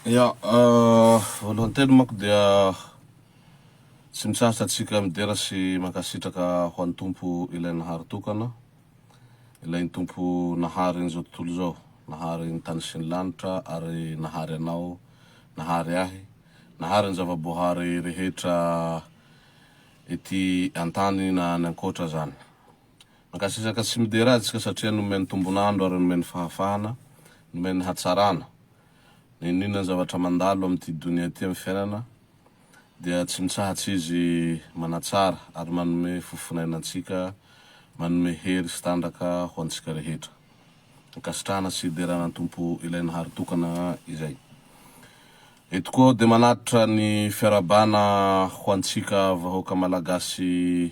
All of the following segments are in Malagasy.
Ya, euh, voalohany teny manko dia tsy misarotra antsika midera sy mankasitraka ho an'ny Tompo ilay Nahary tokana, ilay ny Tompo Nahary an'izao tontolo izao, Nahary ny tany sy ny lanitra ary Nahary anao, Nahary ahy. Nahary ny zava-boahary rehetra ety an-tany na any an-koatra azany. Mankasitraka sy midera azy isika satria nomeny tombon'andro ary nomeny fahafahana, nomeny hatsarana. Na inona inona zavatra mandalo amin'ity donia ity amin'ny fiainana dia tsy mitsahatsy izy manatsara ary manome fo fon'aina antsika, manome hery sy tanjaka ho antsika rehetra. ankasitrahana sy hiderana ny Tompo ilay nahary tokana izay. Eto koa dia manatitra ny fiarahabana ho antsika vahoaka Malagasy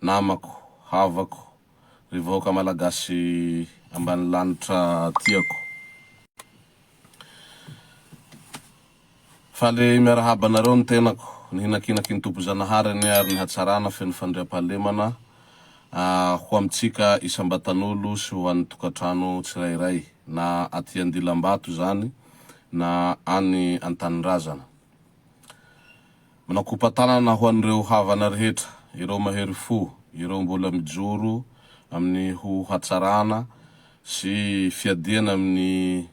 namako, havako, ry vahoaka Malagasy ambanilanitra tiako. Faly miarahaba anareo ny tenako. Nihinankinanky ny Tompo Zanahary anie ary ny hatsarana feno fandriampahalemana ho amintsika isam-batan'olo sy ho an'ny tokantrano tsirairay, na aty Andilambato izany na any an-tanindrazana. Manakopa-tanana ho an'ireo havana rehetra, ireo mahery fo, ireo mbola mijoro amin'ny ho hatsarana sy fiadiana amin'ny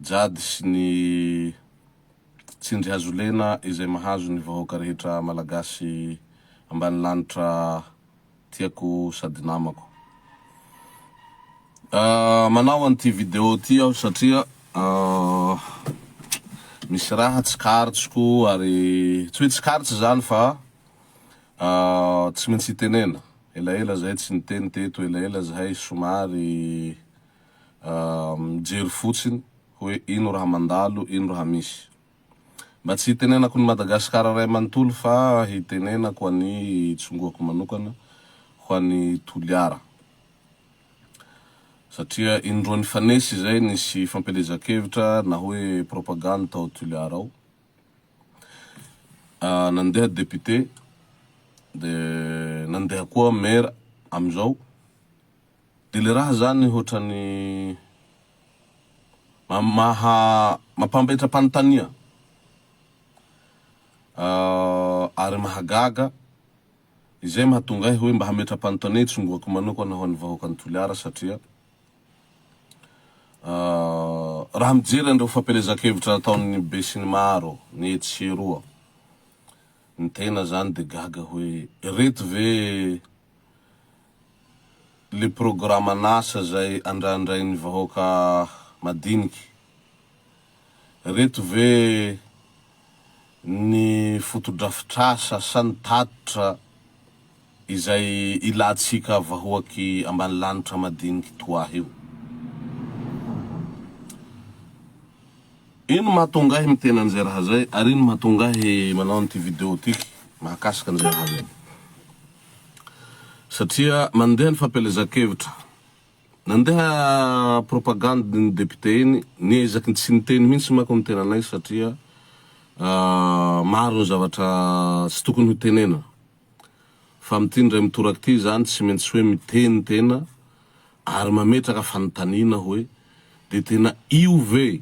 Jadis sy ny tsindry hazolena izay mahazo ny vahoaka rehetra malagasy ambanilanitra tiako sady namako. Manao an'ity video ity aho satria misy raha tsikaritro ary tsy hoe tsikaritro izany fa tsy maintsy hitenena, elaela zahay tsy niteny teto, elaela zahay somary mijery fotsiny hoe ino raha mandalo, ino raha misy. Mba tsy hitenenako ny Madagasikara ray manontolo fa hitenenako an'i Tsongoako manokana ho an'i Toliara. Satria indroa nifanesy izay nisy fampielezan-kevitra na hoe propagande tao Toliara ao. Nandeha député, dia nandeha koa maire amin'izao. De le raha zany hotrany maha mampanbetra panontania ah ary mahagaga izay mahatonga ahy hoe mba hametra panontania itsongoako manokana ho an'ny vahoakan'i Toliara satria ah raha mijery an'ireo fampielezan-kevitra ataon'ny besinimaro ny etsy sy eroa ny tena zany de gaga hoe reto ve le programan'asa zay andrandrain'ny vahoaka madiniky. Reto ve ny fotodrafitrasa sa ny tatitra izay ilantsika vahoaky ambanilanitra madiniky toahy io? Ino mahatonga ahy miteny an'izay raha zay ary ino mahatonga ahy manao an'ity video tiky mahakasika an'izay raha zay? Satria mandeha ny fampielezan-kevitra. Nandeha propagande iny député iny, niezaky ny tsy niteny mihitsy manko ny tenanay satria maro ny zavatra tsy tokony ho tenena. Fa amin'ity indray mitoraka ity izany tsy maintsy hoe miteny tena ary mametraka fanontaniana hoe dia tena io ve?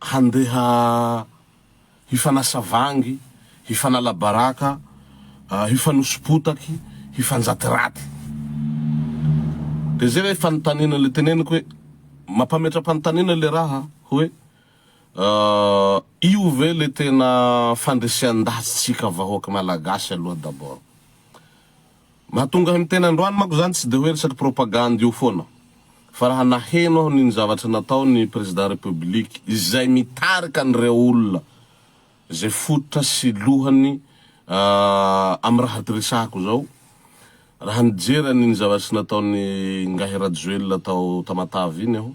handeha hifanasa vangy, hifanala baraka, hifanosi-potaky, hifanjaty raty. Dia izay ilay fanontaniana, ilay teneniko hoe, mampametra-panontaniana ilay raha hoe, io ve ilay tena fandresen-dahatsintsika vahoaka Malagasy aloha d'abord? Mahatonga ahy miteny androany manko izany tsy dia hoe resaky propagandy io foana, fa raha naheno aho ny ny zavatra natao ny Président République izay mitarika an'ireo olona izay fototra sy lohany amin'ny raha resahako izao, raha nijery an'ny ny zavatry nataon'i Ingahy Rajoelina tao Tamatave iny aho,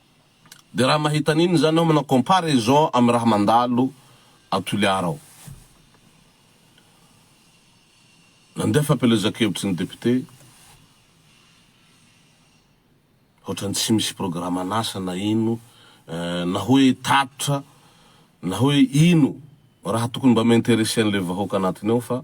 De raha mahita an'iny zany aho manao comparaison amin'ny raha mandalo ao Toliara ao. Nandeha fampielezan-kevitry ny député, ohatrany tsy misy programan'asa na ino, na hoe tatitra, na hoe ino raha tokony mba mi-interesser an'ilay vahoaka anatiny ao fa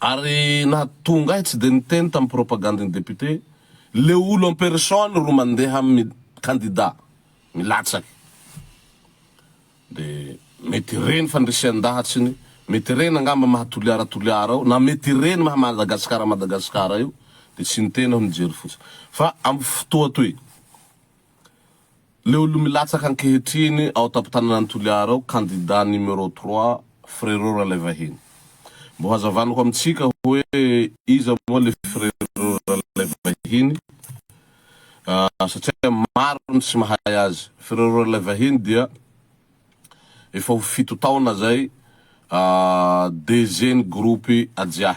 Ary nahatonga ahy tsy dia niteny tamin'ny propagandin'ny député, le olo en personne ro mandeha amin'ny kandida milatsaky. Dia mety ireny fandrisian-dahatsiny, mety ireny angamba maha Toliara Toliara ao, na mety ireny maha Madagasikara Madagasikara io, dia tsy niteny aho nijery fotsiny. Fa amin'ny fotoa toy. Leo lo milatsaka ankehitriny ao an-tampon-tananan'i Toliara ao, kandida numéro trois, Frérot Ralaivahiny. Mbo hazavanako amintsika hoe iza moa le Frérot Ralaivahiny satria maro ny tsy mahay azy. Frérot Ralaivahiny dia efa ho fito taona zay DG-n'ny groupe Ajiahy.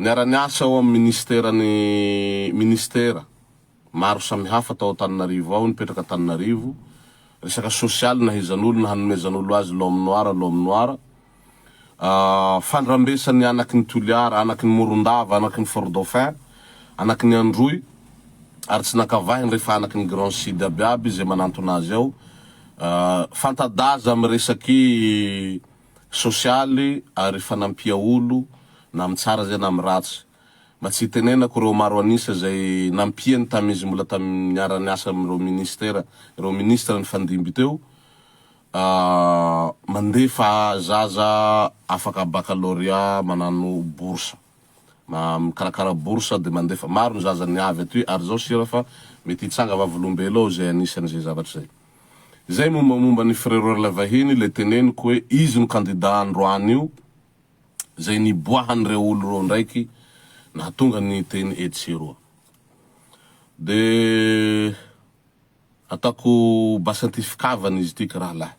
Niara-niasa ao amin'ny minisiteran'ny minisitera maro samihafa tao Antananarivo ao, nipetraka Antananarivo, resaka sosialy nahaizan'olona hanomezan'olo azy l'homme noir, l'homme noir, fandrambesan'ny anaky ny Toliara, anaky ny Morondava, anaky ny Fort Dauphin, anaky ny Androy, ary tsy nankavahiny rehefa anaky ny Grand Sud abiaby izay manantona azy ao, fanta-daza amin'ny resaky. sosialy ary fanampia olo na am tsara zay na am ratsy. Mba tsy hitenenako reo maro anisa zay nampiany tam izy mbola tam niara niasa am reo ministera reo ministra nifandimby teo ahh mandefa zaza afaka baccalauréat manano bourse ma mikarakara bourse de mandefa maro ny zaza niavy atoy ary zao sira fa mety hitsanga vavolombeloo zay anisany zay zavatra zay. Izay mombamomba an'i Frère Orla vahiny ilay teneniko hoe izy no kandida androany io izay niboahan'ireo olo roa ndraiky nahatonga ny teny etsy sy eroa. Dia ataoko basanty fikavana izy ity ka rahalahy.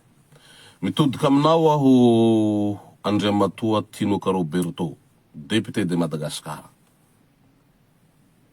Mitodika aminao aho Andriamatoa Tinoka Roberto, Député de Madagascar.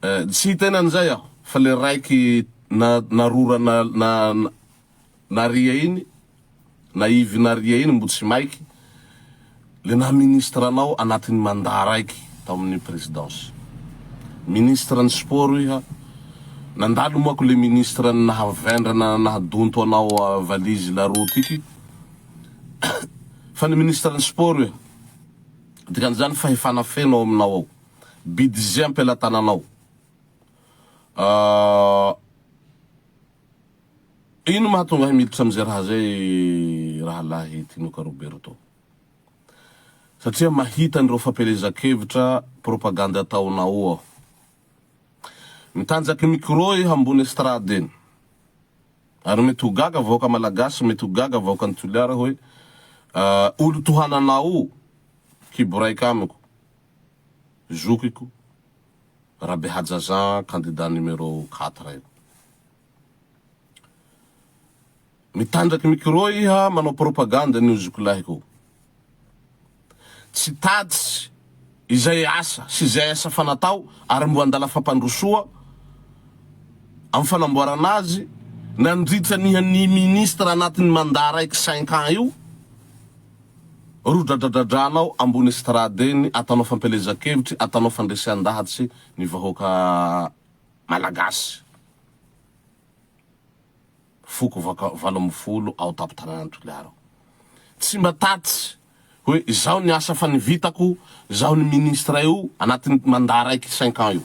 Tsy hita eny an'izay aho fa le raiky na narora na na naria iny na ivy naria iny mbo tsy maiky le naha ministre anao anatin'ny mandat raiky tao amin'ny presidence ministre ny sport iha nandalo moako le ministre ny naha vendrana naha donto anao valise la roue tiky fa ny ministre ny sport iha dikan'izany fahefana feno ao aminao ao. Bidizia am-pelatananao. Ahh. Ino no mahatonga ahy miditra amin'izay raha izay Rahalahy Tinoka Roberto? Satria mahita an'ireo fampielezan-kevitra propagandy ataonao aho. Mitanjaky micro iha ambony estrade eny. Ary mety ho gaga vahoaka Malagasy, mety ho gaga vahoakan'i Toliara hoe, Ahh, olo tohananao kibo raika amiko. zokiko Rabehajaja candidat numéro quatre io. Mitandraky micro iha manao propagande an'io zokilahy ko. Tsy tatitsy izay asa sy izay asa fa natao ary mbo andala fampandrosoa am fanamboarana azy nandritra niha ny ministre anatin'ny mandat raiky cinq ans io. Rodradradradranao ambony estrade eny atanao fampielezan-kevitry atanao fandresean-dahatsy ny vahoaka Malagasy foko vaka valo ambin'ny folo ao an-tampon-tanànan'i Toliara ao. Tsy mba tatsy hoe izao ny asa fa ny vitako, izao ny ministre io anatin'ny mandat raiky cinq ans io.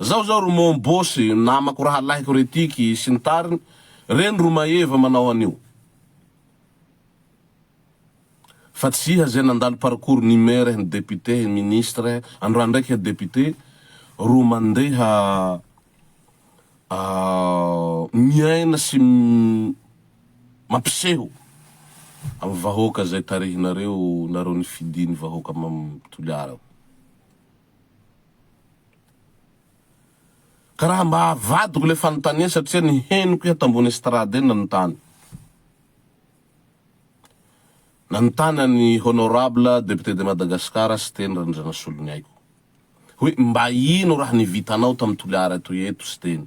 Zao zao ry mon boss namako rahalahiko ry tiky sy ny tariny reny ro maeva manao anio fa tsy iha zay nandalo parcours ny maire eh ny député eh ministre eh androany ndraiky iha député ro mandeha miaina sy mampiseho am vahoaka zay tarihinareo nareo nifidiny vahoaka mam toliara. Ka raha mba avadiko ilay fanontaniana satria ny henoko eto ambony estrade eny nanontany. Nanontany an'i Honorable Député de Madagascar Siteny Randrianasoloniaiko hoe mba ino raha ny vitanao tamin'ny Toliara toy eto Siteny?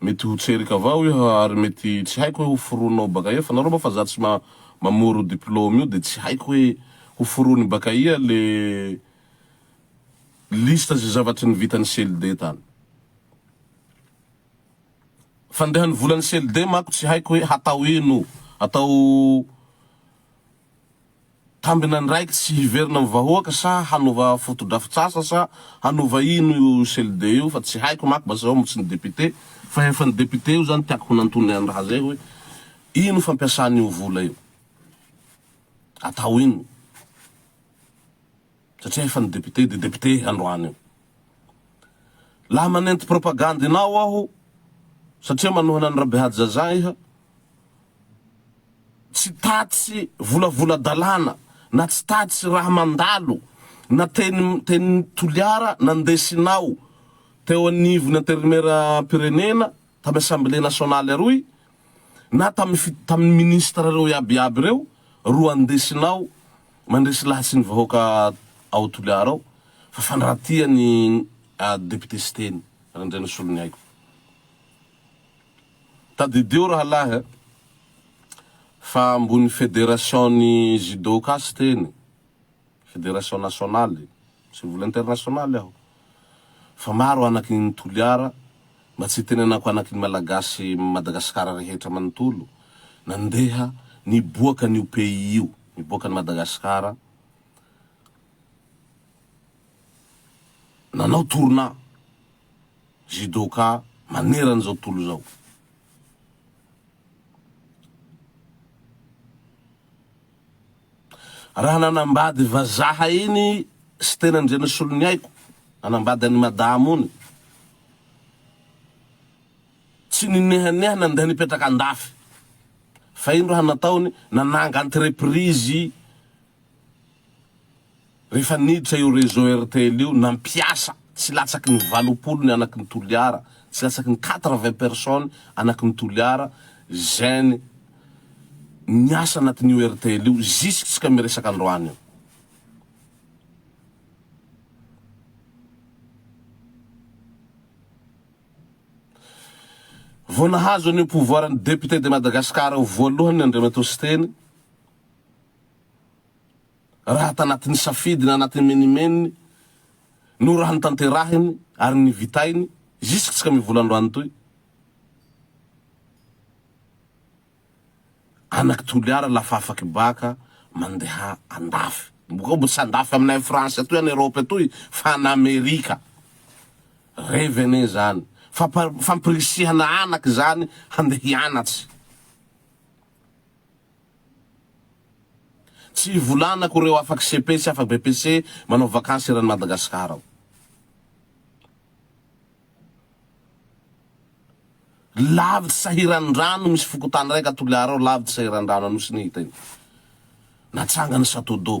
Mety ho tserika avao io ary mety tsy haiko hoe ho foronao baka ia fa nareo moa fa za tsy mamoro diplôme io de tsy haiko hoe ho forony baka ia le liste ze zavatry ny vitan'ny CLD tany. Fandehan'ny volan'ny CLD manko tsy haiko hoe hatao ino, atao. Tambina ndraiky tsy hiverina am vahoaka sa hanova fotodrafitsasa sa hanova ino io CLD io fa tsy haiko mako basy zao tsy ny député fa efa ny député io zany tiako honantony an raha zay hoe ino fampiasana io vola io atao ino satria efa ny député dia député androany io. Laha manenty propagande inao aho satria manohana an'i Rabehaja Zaza iha, tsy tatsy volavola dalàna na tsy tatsy raha mandalo na teny teny Toliara nandesinao teo anivon'ny Intérimaire-mpirenena tamin'ny Assemblée nationale aroy na tamin'ny tamin'ny ministre reo iaby iaby reo ro andesinao Mandresy lahy sy ny vahoaka ao Toliara ao fa fandratia ny député Siteny Randrianasoloniaiko. Tadidio rahalahy a! fa ambony fédération ny judo ka Siteny, fédération nationale, sy vola internationale aho. Fa maro anaky ny Toliara mba tsy itenenako anaky ny Malagasy Madagascar rehetra manontolo nandeha niboaka anio pays io niboaka any Madagascar nanao tournant judoka manerany zao tontolo zao Raha nanambady vazaha iny Siteny Andrianosoloniaiko, nanambady an'i Madama ony, tsy ninehaneha nandeha nipetraka andafy, fa ino raha nataony, nananga entreprise, Rehefa niditra io réseau rtl io, nampiasa tsy latsaky ny valopolo ny anaky ny Toliara, tsy latsaky ny quatre vingt personnes anaky ny Toliara zen niasa anatin'io rtl io zisksika miresaka androany io. Vao nahazo an'io pouvoir ny député de Madagascar io voalohany ny Andriamatoa Siteny, raha tanatin'ny safidy na anatin'ny menimeniny no raha notanterahiny ary nivitainy ziskskam'io volandroany toy. Anaky Toliara la fa afaky baka mandeha andafy. Bokao mbo tsy andafy aminay France atoy any Europe atoy fa any Amerika. Revy anie zany. Fampa fampirisihana anaky zany handeha hianatsy. Tsy ivolanako reo afaky cepe sy afa BPC manao vakansy eran'i Madagascar ao. Lavitry sahiran-drano misy fokontany raiky a Toliara ao lavitry sahiran-drano Anosy ny hita iny. Natsangany Satodo.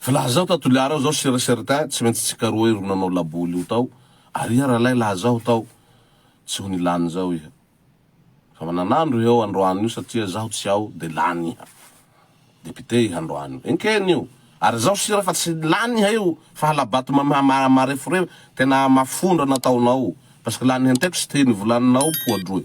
Filazao ta Toliara ao zao sur et certain tsy maintsy tsika roa io ro nanao laboly io tao ary iha ralay laha zaho tao tsy ho nilany zao iha fa mananandro iha ao androany io satria zaho tsy ao de lany iha député iha androany io enkeny io ary zaho sira fa tsy lany iha io fa halabato mareforefo tena mafondra nataonao parce que lany henteko sy te nivolanina ao poa droy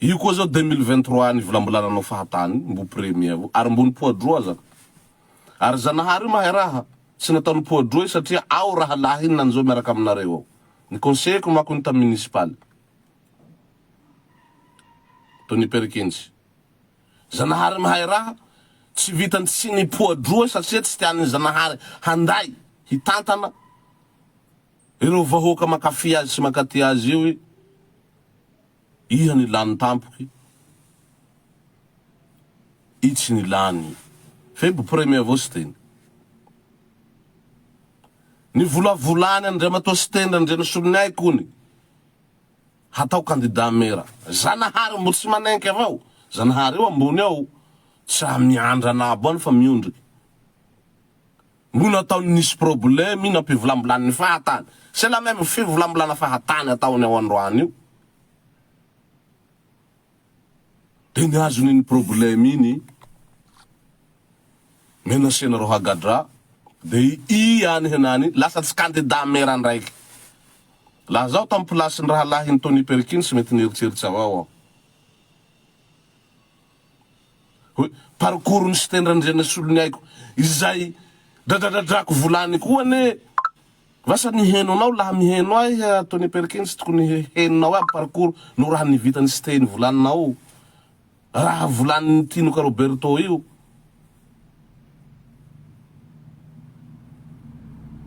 Io koa zao deux mille vingt trois any vilambolana anao fahatany mbo premier avao ary mbo nipoadroa aza ary zanahary io mahay raha tsy natao nipoadroa io satria ao rahalahiny nanjo miaraka aminareo ao ny conseiller-ko manko iny tam municipal to ny perkinjy zanahary mahay raha tsy vitany tsy nipoadroa satria tsy tian'ny zanahary handay hitantana ireo vahoaka mankafy azy sy mankaty azy io i Iza ny lany tampoky i tsy ny lany febo premier avao siteny ny volavolany andriamatoa siteny randrianasoloniahy kony hatao candidat mera zanahary mbo tsy manenky avao zanahary eo ambony ao tsa miandrana abo any fa miondrika No nataony nisy probleme nampivolambolan'ny fahatany. C'est la même fivolambolana fahatany ataony ao androany io. Dia ny azony iny probleme iny menacena Rohagadra dia i any henany lasa tsy candidat mera ndraiky. Laha zaho tam place ny rahalahiny Tony Perkins mety nieritreritra avao aho. hoe parcours ny site nrandriana sy olony haiko izay dradradradrako volany koa anie vasa niheno anao laha miheno ahy Tony Perkins tokony henonao aby parcours no raha ny vitany site ny volaninao raha volanin'ny tinoka Roberto io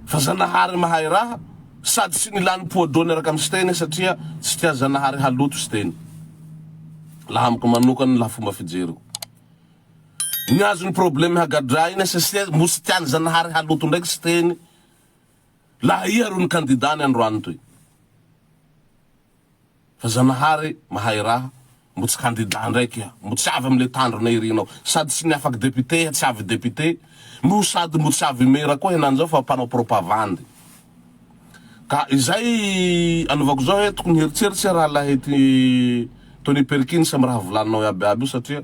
Fa Zanahary mahay raha, sady tsy nila ny poids d'eau niaraka amin'i Siteny satria tsy tian'i Zanahary haloto Siteny. Laha amiko manokana, laha fomba fijeriko. Ny azon'ny probleme hagadraina satria mbo tsy tian'i Zanahary haloto ndraiky Siteny, laha iha ro ny kandidany androany toy. Fa zanahary mahay raha, mbo tsy candidat ndray kia, mbo tsy avy amle tandrona irinao, sady tsy niafak député, tsy avy député, no sady mbo tsy avy mera koa henany zao fa mpanao propavandy. Ka izay anaovako zao he tokony hieritseritsy rahalahy ty Tony Perkins am raha volaninao iaby iaby io satria,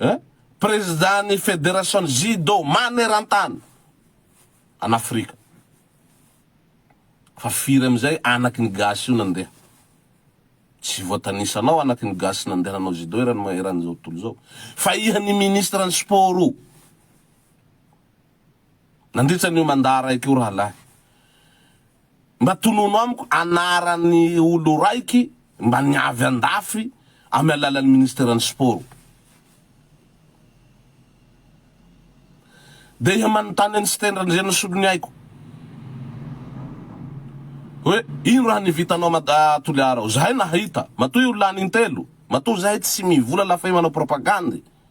Eh? Prezidà ny Federasion'ny Judo manerantany an'Afrika. Fa firy amin'izay anaky ny gasy io nandeha? Tsy voatanisa anao anaky ny gasy nandeha nanao judo eran'ny eran'izao tontolo izao. Fa iha ny Ministran'ny Sport o! Nandritra an'io mandat raiky io rahalahy. Mba tonòno amiko anaran'ny olo raiky mba niavy andafy amy alalan'ny ministeran'ny sport. Dia iha manontany an'i Siteny Randrianosolo ny aiko hoe ino raha ny vitanao Mad a Toliara ao. Zahay nahita. Matoa io lany intelo. Matoa zahay tsy mivola la fay manao propagandy.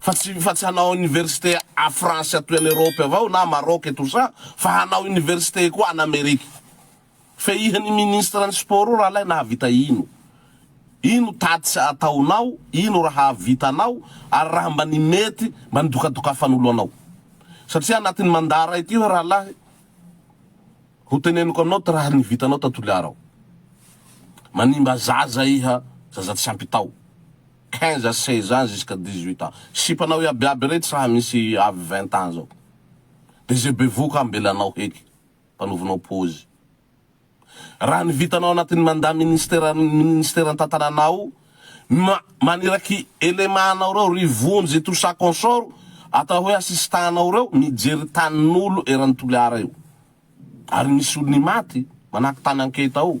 Fa tsy fa tsy hanao université à France atoy any Europe avao na Maroc et tout ça fa hanao université koa any Amerique. Fehihan i ministre ny sport io rahalahy nahavita ino? Ino tatys ataonao, ino raha hahavitanao ary raha mba ny mety mba ny dokadokafan'olo anao. Satria anatin'ny mandat ray ty hoe rahalahy ho teneniko aminao ty raha ny vitanao ta Toliara ao. Manimba zaza iha, zaza tsy ampy tao. quinze à seize ans jusqu'à dix huit ans sipanao iaby iaby retsy raha misy avy vingt ans zao de ze bevoka ambelanao heky mpanovinao pozy raha ny vitanao anatin'ny mandat ministère ministère tantananao ma maniraky élément anao reo ry vonjy tout ça consort atao hoe assistant anao reo mijery tanin'olo eran'ny toliara io ary misy olo ny maty manaky tany anketa ao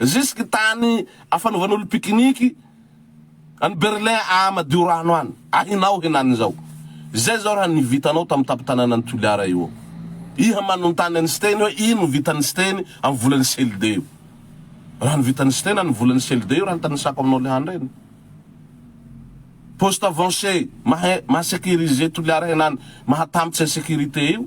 Zisky tany afanovan'olo pikiniky any Berlin aa madio rano any. Ahinao henany zao. Zay zao raha ny vitanao tam tapitanana ny Toliara io ao. Iha manontany any Siteny hoe ino ny vitan'i Siteny am volan'i Selde io. Raha ny vitan'i Siteny any volan'i Selde io raha ny tanisako aminao leha andre ny. Poste avancé maha maha sécurisé Toliara henany maha tam tsy insécurité io.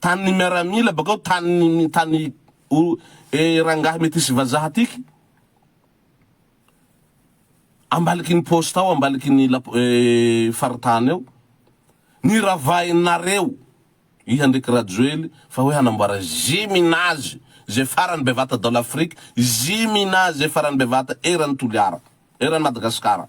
Tany ny miaramila bakao tany ny mi tany o e rangahy metisy vazaha tiky ambaliky ny poste ao ambaliky ny la e faritany ao ny ravahin nareo iha ndreky rajoely fa hoe hanamboara gymnase ze farany bevata dans l'afrique gymnase farany bevata eran'i toliara eran'i madagasikara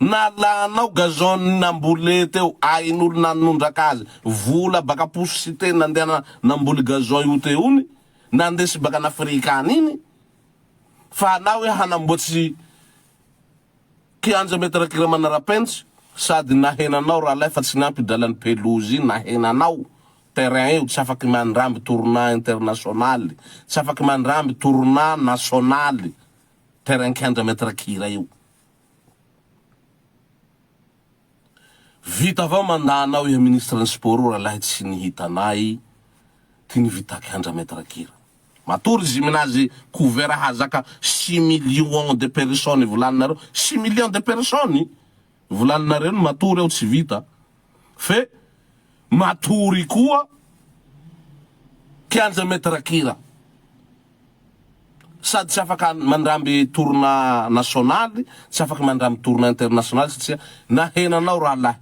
Nalanao gazon namboly teo ain'olo nanondraka azy vola baka posy sy teny nandehana namboly gazon io teo ony nandesy baka an'afrika any iny fa anao hoe hanamboatsy kianja metre kira manarapentsy sady nahena anao ralay fa tsy niampy dralan'ny pelouse nahena anao terrain io tsy afaky mandramby tournant internationaly tsy afaky mandramby tournant nationaly terrain kianja metre kira io Vita avao mandat anao iha ministre ny sport o ralahy tsy ny hitanay ty ny vitaky andra maitre kira matory izy minazy couvert hazaka six millions de personnes volaninareo six millions de personnes volaninareo ny matory ao tsy vita Fe matory koa kianja maître kira. Sady tsy afaka mandramby tourna nationaly, tsy afaka mandramby tourna internationaly satria nahena anao rahalahy.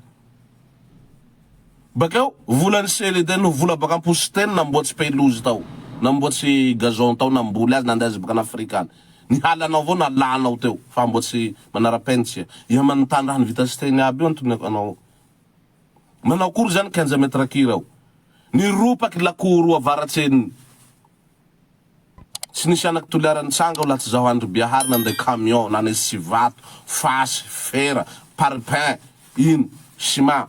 Bakeo volan'i Sely dia no vola baka am-po Siteny namboatsy pelouse tao, namboatsy gazon tao, namboly azy, nandeha azy bakan'Afrika any. Ny halanao avao no alanao teo fa mbo tsy manarapentsy ia manontany raha ny vita siteny aby io antoniko anao manao akory zany kianja mètre kira ao ny ropaky lakoro avaratsy ny tsy nisy anaky toliara nitsanga ao laha tsy zaho andry biahary nandray camion nanesy sivato fasy fera parpaing ino sima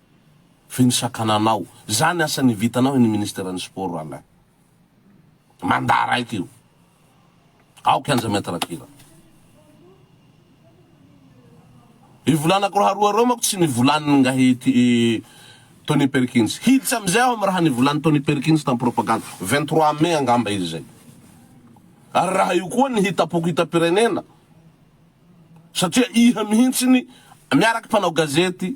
Ve ny sakananao? Zany asa ny vitanao eny ministère ny sport Alain. Mandat raika io. Ao kianja mètre kira. I volanako raha roa reo mako tsy nivolany ngahy i Tony Perkins. Hiditra amizay aho am raha nivolany Tony Perkins tam propagande. Vingt trois mai angamba izy zay. Ary raha io koa ny hitapoko hitampirenena. Satria iha mihintsiny miaraky mpanao gazety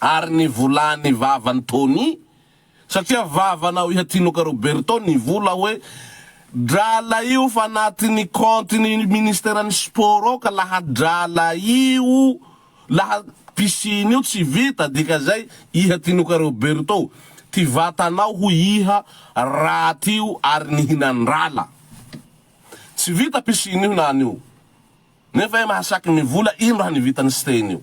ary ny volany vavan Tony satria vavanao Ihatinoka Roberto ny vola hoe drala io fa anatiny compte ny ministère ny sport ao ka laha drala io laha piscine io tsy vita dika zay Ihatinoka Roberto ty vatanao hoy Iha raty io ary nihinandrala tsy vita piscine io na anio nefa Iha mahasaky mivola ino raha ny vitany steny io.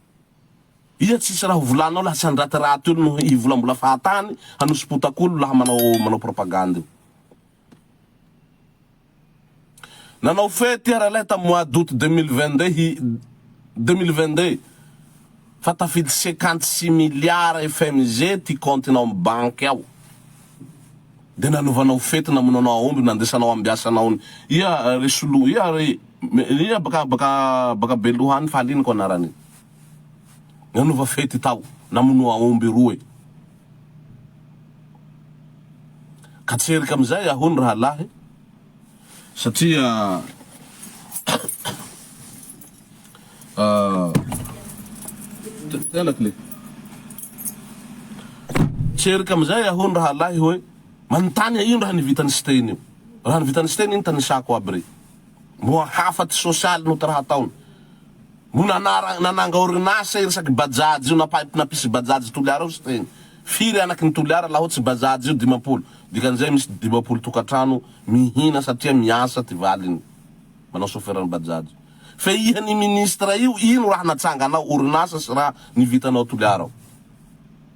Iza tsisy raha ho volanao lasa ny raty raty olo no hivolambola fahatany hanosopotakolo laha manao manao propagande io. Nanao fety iara lahy tam mois d'aout deux mille vingt deux hi deux mille vingt deux fa tafidy cinquante six milliards FMG ty compte nao am banky ao de nanovanao fety namono anao aomby nandesanao ambiasanaon ia re solo ia re Iza baka baka baka beloha any fahaliniko anarany nanova fety tao namono aomby roe ka tsy erika amizay aho ny rahalahy satria tsy erika amizay aho ny rahalahy hoe manontany ino raha ny vitan'i siteny io raha ny vitan'i siteny iny tanisako aby re Moa hafa tsy sosialy no tra hataony. Moa nanara nananga orinasa iresaky bajaj io napaipy napisy bajaj toliara ao siteny. Firy anaky ny toliara laho tsy bajaj io dimampolo dikan'izay misy dimampolo tokatrano mihina satria miasa ty valiny manao soferan'ny bajaj. Fe iha ny ministra io ino raha natsanganao orinasa sy raha nivitanao toliara ao.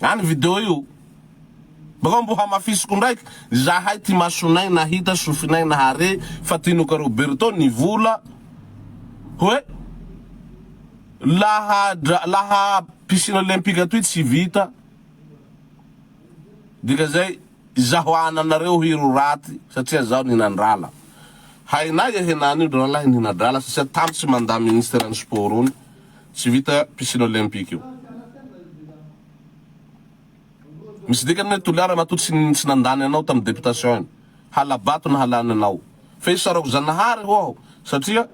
Any video io. Bakao mbo hamafisiko ndraiky. Zahay ty masonay nahita sofinay nahare fa tinoka Roberto ny vola hoe laha dra laha piscine olympique atoy tsy vita dika zay izaho ana nareo hiro raty satria zaho nihinan-drala hainay e henany io dralahy nihina-drala satria tamy tsy manda ministera ny sport ony Tsy vita piscine olympique io. Misy dikany ny hoe Toliara matoa tsy nandany anao tamin'ny députation iny. Hala-bato no halany anao. Fa isarako Zanahary ho'aho satria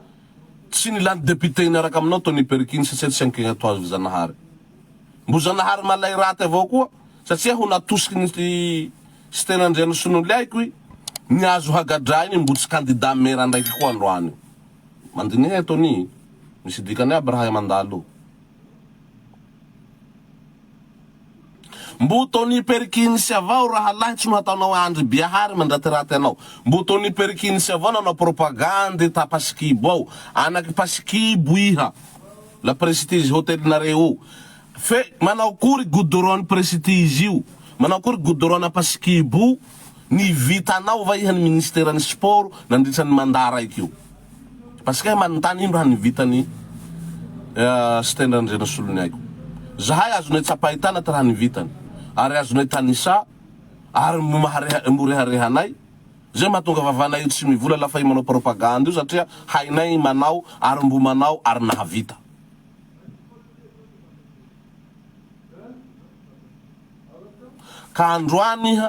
tsy nilany député hiniaraka aminao Tony Perkins satsia tsy ankegna toa azy Zanahary. Mbo Zanahary malay raty avao koa satsia ho natosiky ny Siteny Andrianosinoliaiko i Niazo Hagadrainy mbo tsy candidat mera ndraiky koa androany io. Mandiniha Tony. Misy dikany aby raha hay mandalo. Mbo Tony Perkins avao rahalahy tsy no hataonao Andry Biahary mandratiraty anao. Mbo Tony Perkins avao nanao propagandy ta Pasikibo ao. Anaky Pasikibo iha. La Prestige Hotel nareo io. Fe manao akory goudron ny Prestige io. Manao akory goudron ana Pasikibo io. Ny vitanao va iha ny ministera ny sport nandritra ny mandat raiky io. Asika ahy manontany ino raha ny vitany Siteny Randriana Soloniaiko. Zahay azonay tsapaitana tra ny vitany ary azonay tanisa ary mo rehareha anay zay mahatonga vavanay io tsy mivola lafa i manao propagande io satria hainay manao ary mbo manao ary nahavita. Ka androany iha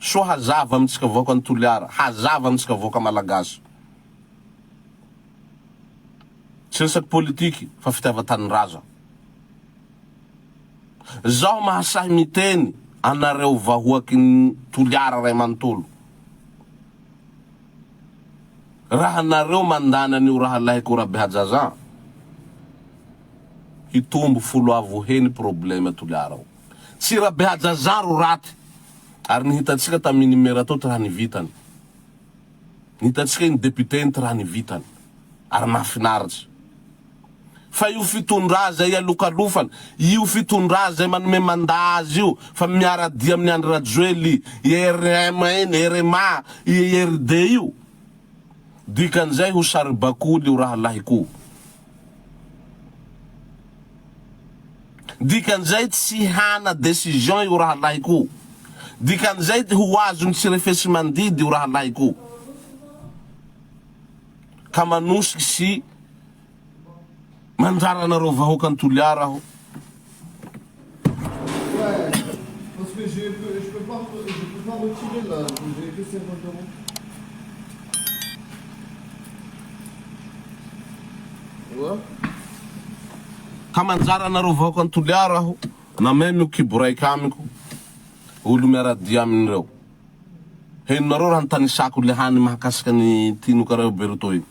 Soa hazava amintsika vahoaka ny Toliara, hazava amintsika vahoaka Malagasy. Tsy resaky politiky fa fitiavan-tanindrazana. Zaho mahasahy miteny anareo vahoaky ny Toliara ray manontolo, raha nareo mandany an'io rahalahiko Rabehajazah, hitombo folo avo he ny probleme Toliara ao. Tsy Rabehajaja ro raty ary ny hitantsika tamin'i Nimerato tra ny vitany. Ny hitantsika iny député iny tra ny vitany ary nahafinaritra. Fa io fitondra zay ialokalofana, io fitondra zay manome mandà azy io fa miara-dia amin'i Andry Rajoely i rm iny, rma, i IRD io, dikan'izay ho saribakoly io rahalahiko o. Dikan'izay tsy hana decision io rahalahiko. Dikan'izay ho azony tsy refesimandidy io rahalahiko. Ka manosika sy mandrara anareo vahoakan'i Toliara aho. Ka manjary anareo vahoakan'i Toliara aho nameno kibo raika amiko olo miaradia aminy reo. Henonareo raha nitanisako le hany mahakasika ny tinoka reo Berto iny.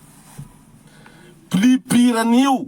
Pli piranio.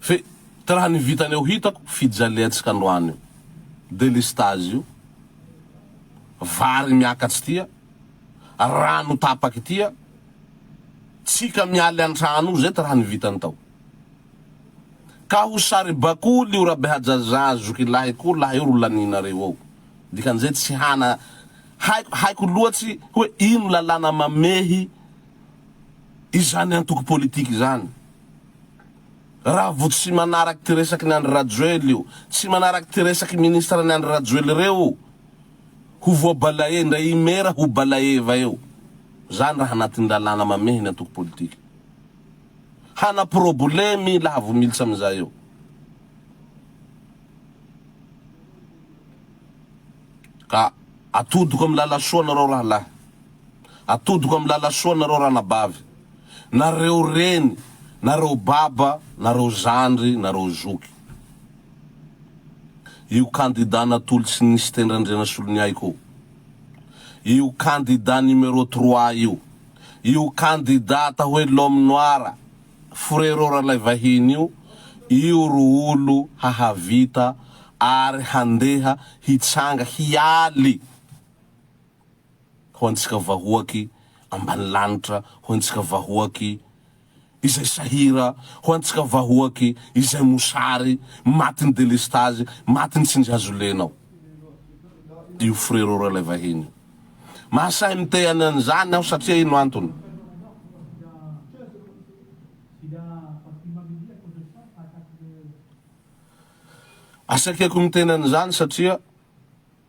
Fe ka raha ny vitany eo hitako fijaliantsika androany io delestazy io, vary miakatry tia, rano tapaky tia, tsika mialy antrano io zay ty raha ny vitany tao. Ka ho saribakoly io Rabehajajà zokilahy ko laha io ro laninareo eo. Dikan'izay tsy hana haiko haiko loatsy hoe ino lalàna mamehy izany antoko politika izany. Raha vo tsy manarak ty resaky ny Andry Rajoely io, tsy manarak ty resaky ministre ny Andry Rajoely reo, ho voabalaie ndra i Mera ho balaeva eo. Zany raha anatin lalàna mamehy ny antoko politika. Hana probolemy laha vo militsa amizay eo. Ka atodiko am lala soa nareo rahalahy. Atodiko amin'ny lalasoa nareo ranabavy, nareo reny, nareo baba, nareo zandry, nareo zoky. Io kandida natolotry sy ny Siteny Randrianasoloniaiko io. Io kandida numéro trois io. Io kandida atao hoe l'homme noir, frérot Ralaivahiny io, io ro olo hahavita ary handeha hitsanga hialy. ho antsika vahoaky ambanilanitra, ho antsika vahoaky izay sahira, ho antsika vahoaky izay mosary, matin'ny delestazy, matin'ny tsindrihazolena ao io frero ralaivahiny io. Mahasahy mitehany an'izany aho satria ino antony? Asaiko miteny an'izany satria.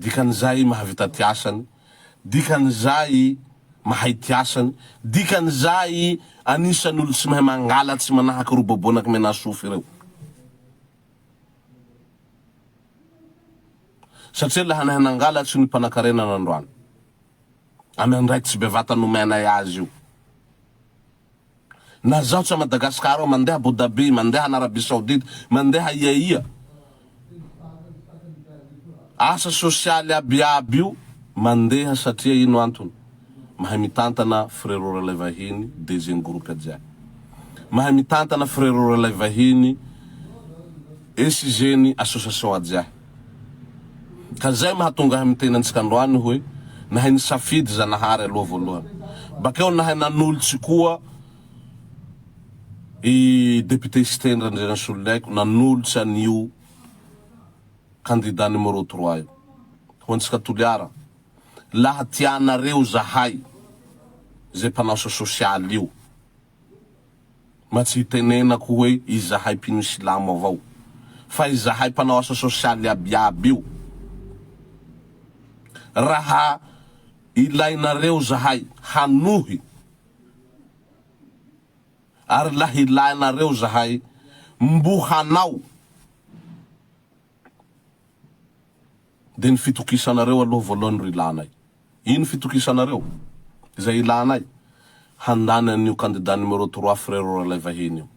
Dikan'izay mahavita ty asany, dikan'izay mahay ty asany, dikan'izay anisan'ny olo tsy mahay mangalatsy manahaka ry Bobo anaky Menasofy ireo. Satria laha nahay nangalatsy ny mpanankarena nandroany, amy andraikitsy bevata nomenay azy io, Na zaho tsy a Madagascar ao, mandeha Abu Dhabi, mandeha any Arabie Saoudite, mandeha iaia. Asa sosialy aby iaby io mandeha satria ino antony? Mahay mitantana frero ralay vahiny DG-ny groupe jiaby. Mahay mitantana frero ralay vahiny SIG-ny association jiahy. Ka izay mahatonga ahy miteny antsika androany hoe, nahay nisafidy Zanahary aloha voalohany. Bakeo nahay nanolotsy koa i Député Siteny Randrianasoloniaiko nanolotsy an'io Candidat numéro trois io ho antsika Toliara. Laha tianareo zahay, izay mpanao sa sosialy io. Mba tsy hitenenako hoe izahay mpino silamo avao fa izahay mpanao asa sosialy iabiaby io. Raha ilainareo zahay hanohy ary lahilahinareo zahay mbo hanao. Dia ny fitokisanareo aloha voalohany ro ilanay. Ino fitokisanareo? Izay ilanay? Handany an'io candidat numéro trois Frero Ralaivahiny io.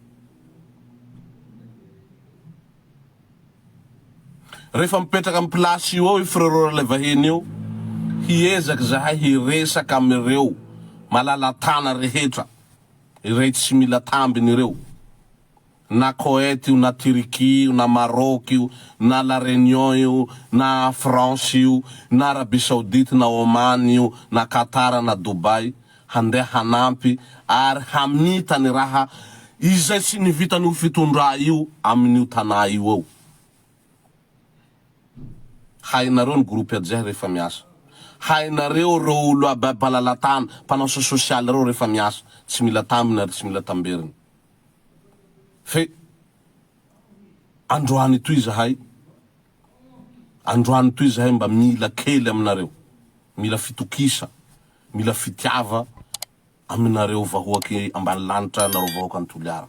Rehefa mipetraka amin'ny place io ao i Frero Ralaivahiny io, hiezaka izahay hiresaka amin'ireo malala-tana rehetra, irey tsy mila tambiny ireo. Na Koet io na Turquie io na Maroc io na La Réunion io na France io na Arabie Saoudite na Oman io na Qatar na Dubai handeha hanampy ary hamita ny raha izay tsy nivitan'io fitondrà io amin'io tanà io eo. Hainareo ny groupe Adjeh rehefa miasa. Hainareo ireo olo ababalalantana mpanao sosialy ireo rehefa miasa. Tsy mila tambiny ary tsy mila tamberina. Fe androany toy izahay, androany toy izahay mba mila kely aminareo, mila fitokisa, mila fitiava aminareo vahoaky ambany lanitra nareo vahoaka ny Toliara.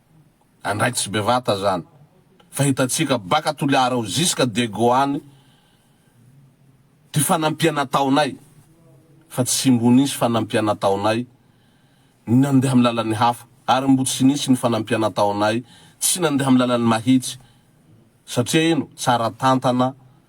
Andraikitry bevata zany fa hitantsika baka Toliara ao jusqu'à Diego any ty fanampiana ataonay fa tsy mbo nisy fanampiana ataonay ny nandeha am lalany hafa ary mbo tsy nisy ny fanampiana ataonay tsy nandeha am lalany mahitsy satria ino tsara tantana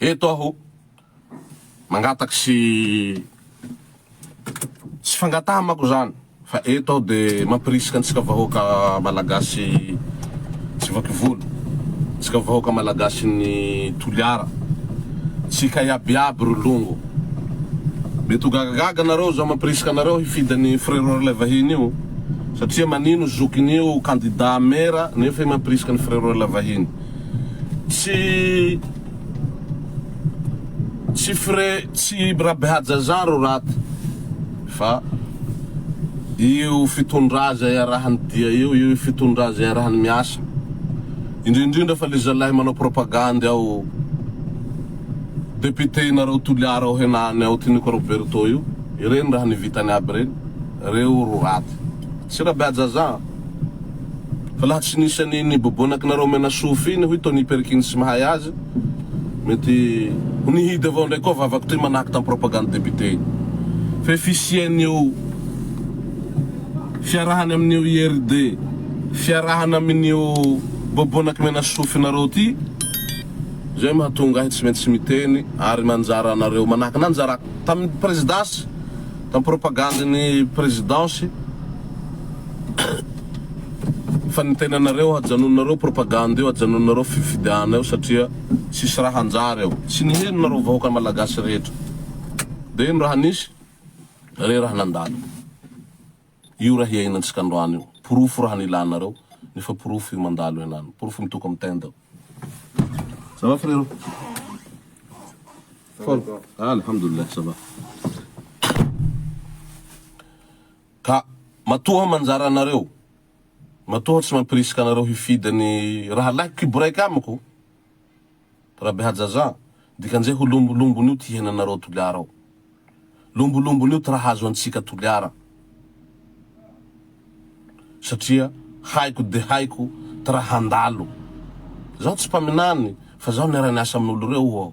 Eto aho mangataka sy tsy fangataha manko zany fa eto aho de mampirisika antsika vahoaka malagasy tsy vaky volo, antsika vahoaka malagasin'ny Toliara, tsika iaby iaby ry longo. Mety ho gagagaga anareo zao mampirisika anareo hifidy an'i Frérot ilay vahiny io satria manino zokin'io candidat mera nefa i mampirisika an'i Frérot ilay vahiny. tsy tsy frais tsy birabehajajan ro raty fa io fitondra zay iarahany dia eo io fitondra zay iarahany miasa indrindrindra fa le zalahy manao propagandy ao député nareo toliara ao henany ao tiniko roberto io ireny raha nivitany aby reny reo ro raty tsy rabehajajan. Fa laha tsy nisy an'iny bobonakinareo omena sofy iny hoy Tony Perkins mahay azy, mety ho nihidy avao ndray koa vavako toy manahaka tam propagande député iny. Fa io fisian'io fiarahany amin'io IRD fiarahana amin'io bobonaky mena sofinareo ty zay mahatonga ahy tsy maintsy miteny ary manjara anareo manahaka nanjarako tam presidence tam propagande ny présidence Fa ny tenanareo ajanononareo propagande io ajanononareo fifidiana io satria tsisy raha hanjary ao tsy ny henonareo vahoaka malagasy rehetra de ino raha nisy re raha nandalo io raha hiainantsika androany io porofo raha nilanareo nefa porofo io mandalo henany porofo mitoka am tenda ça va frero forme alhamdoulilah ça va. Ka matoa manjary anareo, matoa tsy mampirisika anareo hifidy ny rahalahy kiboraiky amiko, Rabehajaja, dikan'izay ho lombolombon'io ty henanareo Toliara ao. Lombolombon'io ty raha azo antsika Toliara. Satria haiko dia haiko ty raha handalo. Zaho tsy mpaminany fa zaho niara-niasa amin'olo reo aho.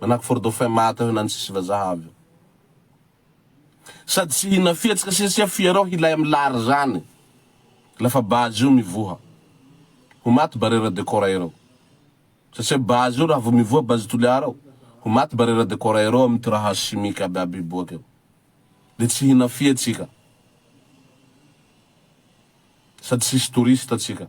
Manahaka fort dauphin maty avy eo na ny sisy vazaha avy eo. Sady tsy hihina fihetsy ka siasia fierao hilay am lary zany lafa base io mivoha. Ho maty barera de coraero. Satsia base io raha vo mivoha base toliara ao ho maty barera de coraero am ty raha chimique aby aby hiboaka eo. De tsy hihina fia tsika. Sady tsisy touriste tsika.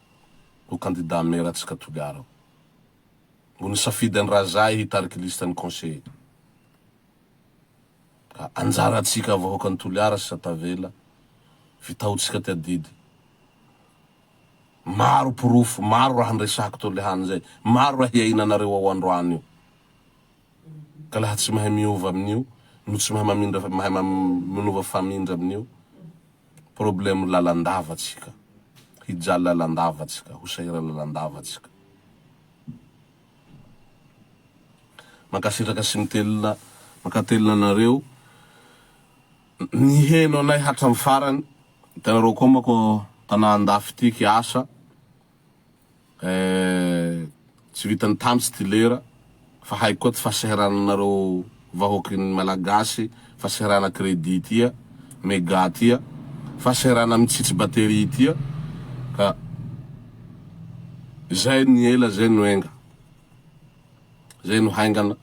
ho kandida mera tsy katogara. Mbo nisafidy an'i Razahy hitarika listan'ny conseillers. Ka anjarantsika vahoakan'i Toliara sy Satavela vitahotsika ty adidy. Maro porofo, maro raha niresahako teo lehany zay, maro raha hiainanareo ao androany io. Ka laha tsy mahay miova amin'io, no tsy mahay mamindra mahay manova famindra amin'io, problème lalandava tsika hijaly lalandava tsika ho sahira lalandava tsika mankasitraka sy mitelina mankatelina anareo niheno anay hatram farany itanareo koa manko tana andafy ity kiasa Eh, tsy vitan'ny tany tsy dilera fa haiko koa tsy fahasahirananareo vahoakin'ny Malagasy fahasairana crédit tia, mega tia, fahasairana mitsitsy batterie tia ka zay ny ela zay no enga, zay no haingana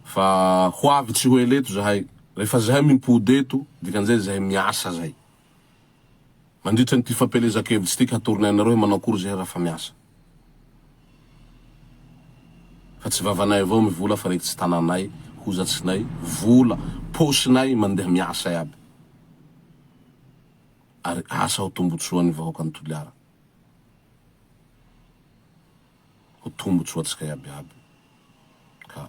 fa ho avy tsy ho ela eto zahay, rehefa zahay mimpody eto dikan'izay zahay miasa zay. Mandritra an'ity fampielezan-kevitra ity ka hatorony anareo hoe manao akory izahay raha fa miasa. Fa tsy vavanay avao ny vola fa rekitsy tananay, hozatsinay, vola paosinay mandeha miasa iaby. Ary asa ho tombotsoan'ny vahoakan'i Toliara. Ho tombotsoantsika iaby iaby. Ka.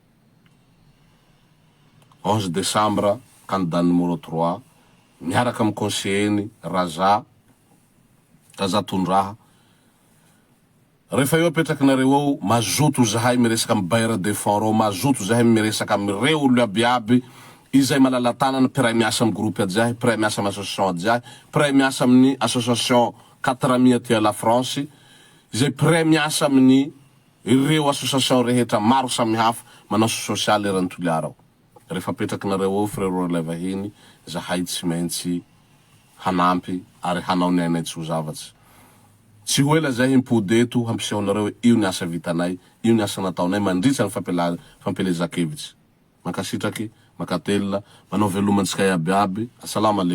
Onze desambra, Candidat numéro trois, miaraka amin'ny conseiller-ny Raza, Raza Tondraha, Rehefa eo apetrakinareo ao, mazoto zahay miresaka amin'ny bailleur de fonds reo, mazoto zahay miresaka amin'ireo olona abiaby izay malala-tanana, mpiray miasa amin'ny groupe ajiahy, mpiray miasa amin'ny association ajiahy, mpiray miasa amin'ny association quatre amis aty à la France, izay mpiray miasa amin'ny. Ireo association rehetra maro samihafa manao sosialy eran'i Toliara ao. Rehefa apetrakinareo ao frero ralay vahiny zahay tsy maintsy hanampy ary hanao ny ainay tsy ho zavatsy. Tsy ho ela zay himpody eto hampiseho anareo io ny asa vitanay, io ny asa nataonay mandritra ny fampielezan-kevitsy. Mankasitraky, makatelina, manao veloma antsika iaby iaby. Asalama le.